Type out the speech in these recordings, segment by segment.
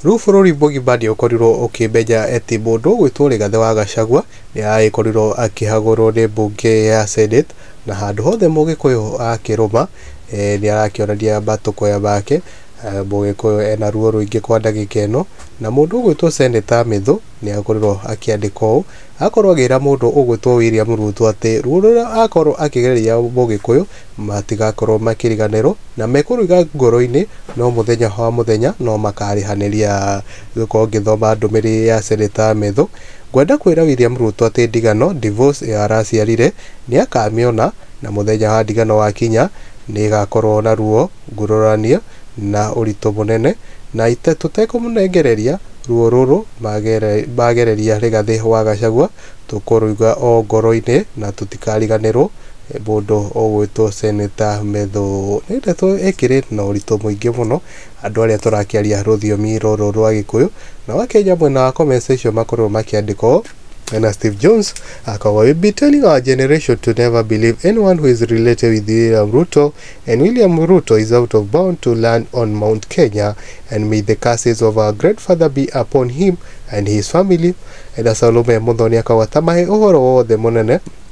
Rĩu bũrũri mũgima nĩ ũkorirwo ũkĩmenya atĩ mũndũ ũgwĩtwo Rigathĩ wa Gachagua nĩ aragĩkorirwo akĩhagũrwo nĩ mbunge ya Senate, na handũ hothe mũgĩkũyũ akĩrũma nĩ arakĩonania matũkũya make, mũgĩkũyũ ena ruo rũingĩ kwa ndagĩka ĩno, na mũndũ ũgwĩtwo Senator Mĩthũ nĩ akorirwo akĩandĩka ũũ, akorwo agĩra mũndũ ũgwĩtwo William Ruto atĩ ruo rũrĩa akorwo akĩgereria mũgĩkũyũ, Matigakorwo makĩriganĩrwo, na mekũrũiga ngoro-inĩ, no mũthenya wa mũthenya no makarĩhanĩria. Gũkorwo ngĩthoma ndũmĩrĩrĩ ya Seneta Methu, ngwenda kwĩra William Ruto atĩ ndigano, divorce, ĩyo araciarire nĩ akamĩona, na mũthenya wa ndigano wakinya, nĩ ĩgakorwo na ruo ngurũranie na ũritũ mũnene, na tũtekũmũnengereria ruo rũrũ magereria Rigathi wa Gachagua, tũkũrũiga o ngoro-inĩ na tũtikariganĩrwo. Mũndũ ũgwĩtwo Senator Methũ nĩ ndeto ĩkĩrĩ na ũritũ mũingĩ mũno andũ arĩa tũrakĩaria rũthiomi rũrũ rwa Gĩkũyũ. Nao Akenya mwena wa comment section makorwo makĩandĩka ũũ, na Steve Jones akoragwo we be telling our generation to never believe anyone who is related with William Ruto and William Ruto is out of bound to land on Mount Kenya and may the curses of our great father be upon him and his family. Na Salome Muthoni akoragwo atamahe ũhoro wothe mũnene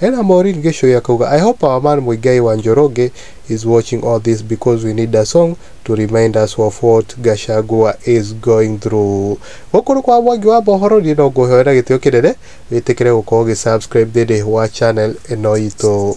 Ena Maureen Gĩchũi akauga, I hope our man Muigai wa Njoroge is watching all this because we need a song to remind us of what Gachagua is going through. Gũkũ nĩ kwa Mwangi wa Mohoro, niĩ no ngũhoe na gĩtĩo kĩnene wĩtĩkĩre gũkorwo ũgĩ subscribe thĩinĩ wa channel ĩno itũ.